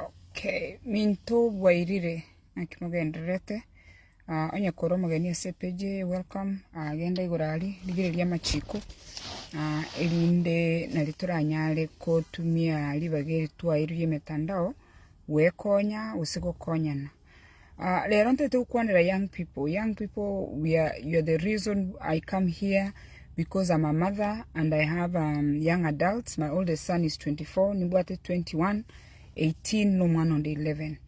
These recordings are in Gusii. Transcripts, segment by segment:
Okay, minto bwairire naki mogendererete ah, onye kore omogeni ase epeji eye welcome ah, genda igoro ari rigireria amachiko ah, erinde nari toranyare kotumia ribaga eri twaeirwe emetandao gwekonya gose gokonyana Ah, rero ntoete gokwanera young people. Young people, we are, you are the reason I come here because I'm a mother and I have um, young adults. My oldest son is 24, nibwate 21, 18 no mwana onde 11.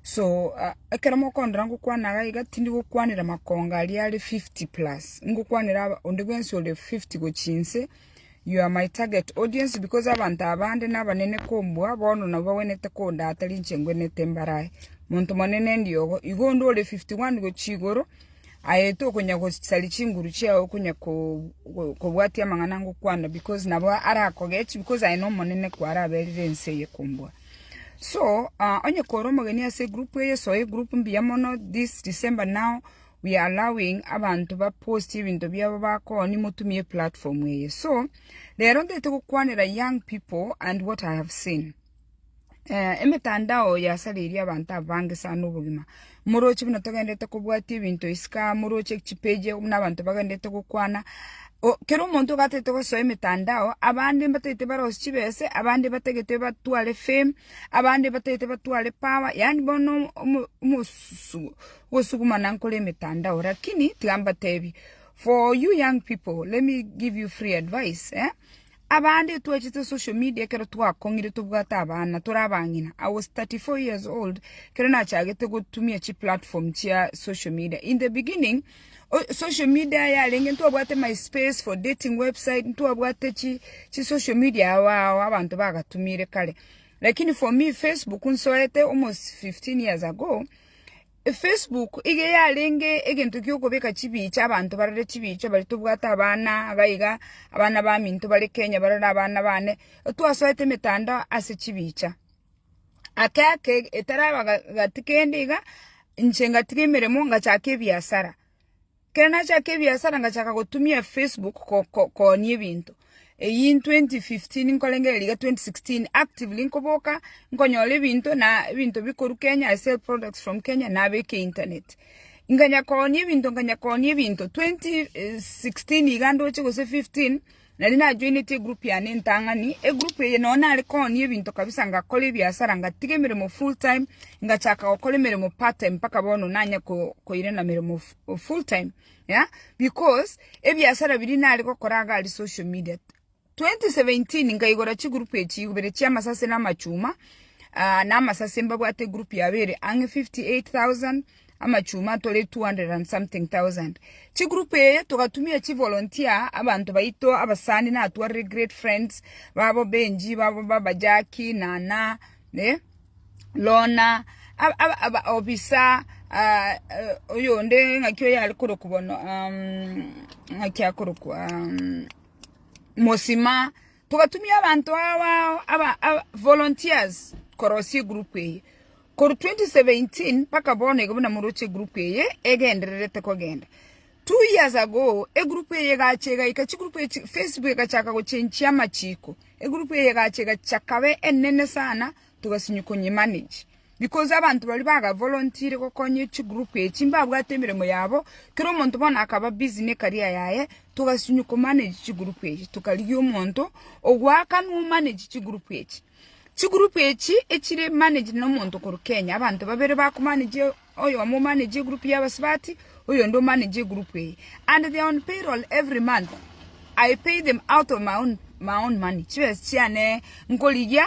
So uh, ekero mokondera ngokwana iga iga tindi gokwanera makonga aria are 50 plus. Ngokwanera onde bwensi ore 50 gochinse. You are my target audience because abanto abande nabanene kombua bono nabo bagwenerete kondata rinche ngwenerete mbare aye. Monto monene ndiogo. Igo onde ore 51 gochia igoro aete okonya gosaria chinguru chiao okonya kobwatia amang'ana ngokwana because nabo arakogechi because aye nomonene kwara aberire ense eye kombua. So, uh, onye kore omogeni ase group eye soe group mbuya mono this December now we are allowing abanto ba post ebinto biabo bakoni motumie platform eye so rero ntete gokwanera young people and what I have seen eh, emetandao yasareirie abanto abange sana obogima moroche buna togendete kobwatia ebinto isika moroche chipeji buna abanto bagendete gokwana kero omonto gatete gosoa emetandao abande mbatete barosi chibese abande batagete batware fame abande batagete batware power yani bono omosu Gosugumana nkore emetandao lakini tiga mbatebie for you young people let me give you free advice eh abande twachete social media ekero twakong'ire tobwate abana tore abang'ina I was 34 years old ekero nachagete gotumia chi platform chia social media in the beginning social media yarenge ntwabwate my space for dating website ntwabwate chi chi social media abao abanto bagatumire kare lakini for me Facebook nsoete almost 15 years ago. Facebook iga yarenge egento giokobeka chibii chia abanto barore chibii chio baria tobwate abana iga iga abana baminto bare Kenya barore abana bane twasoete emetandao ase chibii chio ake ake etaraba gati kende iga inche ngatiga emeremo ngachaka ebiasara. Ekero nachaka ebiasara ngachaka gotumia Facebook kooni ebinto. Eyio in twenty fifteen nkorengereria iga twenty sixteen actively nkoboka nkonyora ebinto na ebinto bikorwa Kenya I sell products from Kenya nabeka internet. Nkanya koonia ebinto nkanya koonia ebinto twenty sixteen iga ndoche gose fifteen. Nari najoinetie egroup yane entang'ani, egroup eye nonya nare koonia ebinto kabisa ngakora ebiasara ngatiga emeremo full time ngachaka gokora emeremo part time mpaka bono nanye koirana emeremo full time yeah because ebiasara biria nare gokora iga aria social media. 2017 nkaigora chigroup echi ibere chia amasase na amachuma na amasase mbabwate egroup yabo ere ang'e 58,000. amachuma atore 200 and something thousand. Chigroup eye togatumia chivolunteer abanto baito abasani natwarire great friends babo Benji babo baba Jackie, Nana, eh, Lona, ab- ab- aba obisa ah, eh, oyonde ng'aki oyo are korokwa bono um, ng'aki akorokwa um, Mosima Togatumia abanto abao aba volunteers korosia egroup eye. Korwa 2017 mpaka bono iga buna moroche egroup eye egendererete kogenda. Two years ago egroup eye egacha egaika chigroup echi Facebook egachaka gochenchia amachiko. Egroup eye egacha egachaka kabe enene sana togasinywa konye manage. Because abanto baria bagavolunteere gokonyia chigroup echi mbabwate emeremo yabo, kera omonto bono akaba busy ne career yaye, togasinywa komanage chigroup echi, tokarigia omonto ogoakanwa omanage chigroup echi. Chigroup echi echire managed nomonto korwa Kenya, abanto babere bakomanage oyomo omanage egroup y'abasubati, oyonde omanage egroup eye. And they are on payroll every month, I pay them out of my own my own money, chibesa chiane nkorigia.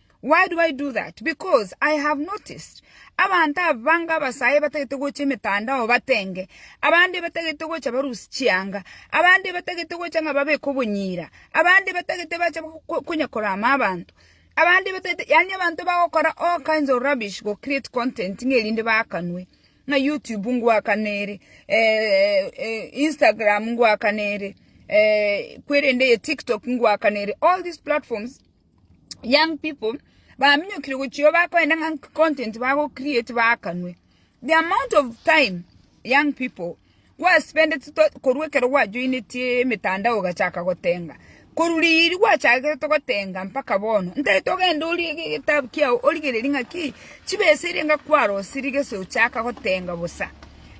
Why do I do that? Because I have noticed abanto abange abasae batagete gocha emetandao batenge, abande batagete gocha barusie chianga, abande batagete gocha ng'a babeke obonyira, abande batagete bache konya korama abanto, abande batagete yaani abanto bagokora all kinds of rubbish go create content ng'a erinde baakanwe. Ng'a YouTube ngwakana ere, Instagram ngwakana ere, kwerende eye TikTok ngwakana ere, all these platforms. young people baminyokire gochia bakoenda ng'a nki content bago create baakanwe. The amount of time young people gwa spendeti to korwa ekero gwa joinetie emetandao ogachaka gotenga, korwa riria gwachagete gotenga mpaka bono, ntari togende orie ge- getabu kiago origererie ng'a ki chibesa eria nga kwarosirie gese ochaka gotenga bosa,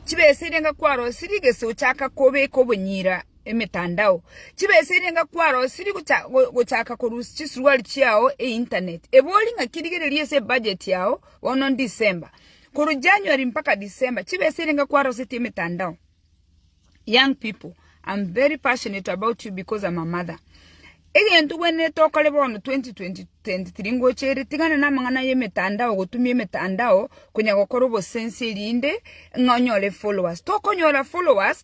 chibesa eria nga kwarosirie gese ochaka kobeka obonyira emetandao. Chibesa eria enga kwarosirie gocha gochaka korusia chisuruari chiao e internet. Ebori ng'aki rigereria ase ebudget yao bono December. Korwa January mpaka December chibesa eria enga kwarosetie emetandao. Young people I'm very passionate about you because I'm a mother. Egento gwenerete okore bono 2023 ngocha ere tigana na amang'ana ya emetandao gotumia emetandao konya gokora obosensi erinde ng'a onyore followers. Tokonyora followers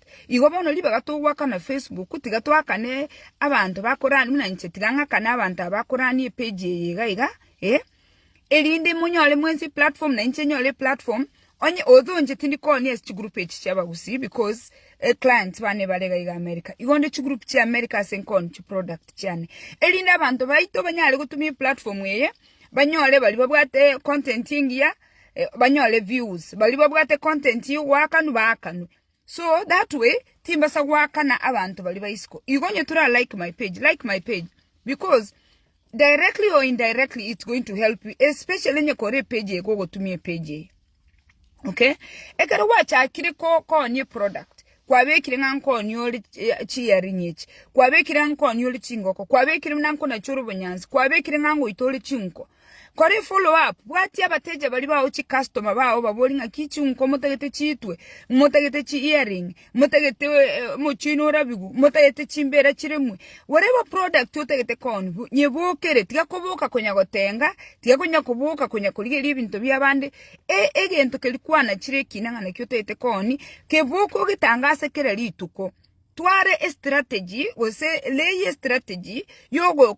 Igo bono ribaga togoakana Facebook, tiga toakane abanto bakorani buna inche tiga ng'akane abanto aba bakorani epage eye iga iga, eh, erinde monyore mwensi eplatform na inche nyore eplatform, onye although inche tindi koonia ase chigroup echi chia abagusii because eclients bane bare iga iga America, igo nde chigroup chia America ase nkooni chiproduct chiane, erinde abanto baito banyare gotumia eplatform eye banyore baria babwate content engiya banyore views, baria babwate content ya ogoakanwa baakanwe. So that way timbasa goakana abanto baria ba isiko. Igo onye tora like my page, like my page because directly or indirectly it's going to help you especially onye kore page ego gotumia page eye. Okay? Ekero gwachakire ko konye product kwabekire ng'a nkonye ore eh, chiearing echi kwabekire ng'a nkonye ore chingoko kwabekire ng'a nkona chore obonyansi kwabekire ng'a ngoita ore chinko Kore follow up, bwatia abateja baria bao chicustoma bao obaborie ng'aki chinko motagete chitwe, motagete chi earring, motagete omochie oino orabigwe, motagete chimbera chiremwe, whatever product otagete koonigwa, nyebokere, tiga koboka konya gotenga, tiga konya koboka konya korigeria ebinto bia abande, e- egento keria kwanachire ekina ng'a naki otagete koonia, keboka ogetange ase kera rituko. Twara estrategy gose lay estrategy yogo.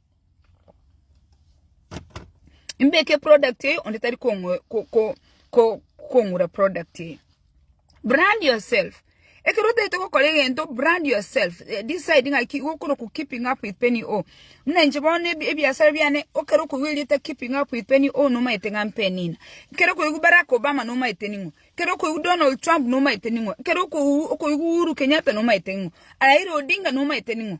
Mbeke product eye onde tari kong'ura product eye. Brand yourself. Ekero otagete gokora egento brand yourself. Decide ng'a ki gokora oku keeping up with Penny O. Buna inche bono ebiasara biane ekero okoigwa erieta keeping up with Penny O nomaete ng'a Penny ng'a. Ekero okoigwa Barack Obama nomaete ning'o. Ekero okoigwa Donald Trump nomaete ning'o. Ekero okoigwa Uhuru Kenyatta nomaete ning'o. Raila Odinga nomaete ning'o.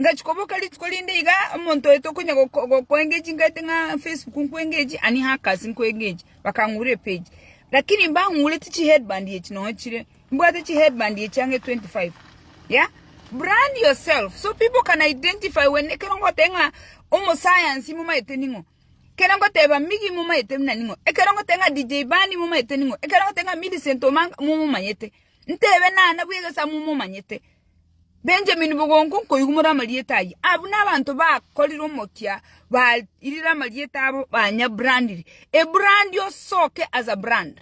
Ngachia koboka rituko rinde iga omonto oito konya gokoengechia nkaete ng'a Facebook nkoengechie ani hackers nkoengechie bakang'ura epage lakini mbang'ureti chi headband echi nonya chire mbwate chi headband echi ang'e 25 yeah brand yourself so people can identify when ekero ngoteba ng'a omosayansi momaete ning'o ekero ngoteba Miggy momaete buna ning'o ekero ngoteba ng'a DJ Bani momaete ning'o ekero ngoteba ng'a Millicent Omanga momomanyete ntebe nana bwegesama omomanyete. Benjamini bogonka nkoigumora amarieta ayio, abwo nabanto bakorire omokia bairire amarieta abo banyabrandire ebrandi osoke as a brand.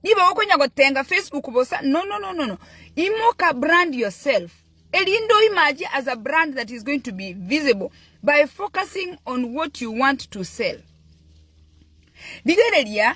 Nigo okonya gotenga Facebook bosa nonononono imoka brand yourself erinde oimache as a brand that is going to be visible by focusing on what you want to sell. Rigereria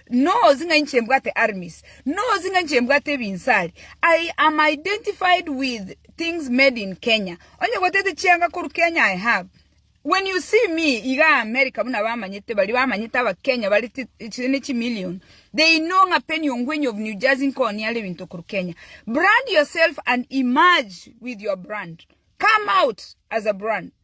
Knows ng'a inche mbwate armis, knows ng'a inche mbwate ebinsari, I am identified with things made in Kenya, onye gwataete chianga korwa Kenya I have, when you see me iga America buna bamanyete baria bamanyete abakenya bare ti- chi- ne chimillion they know ng'a Penny Ongwenyi of New Jersey nkooni are ebinto korwa Kenya brand yourself and emerge with your brand come out as a brand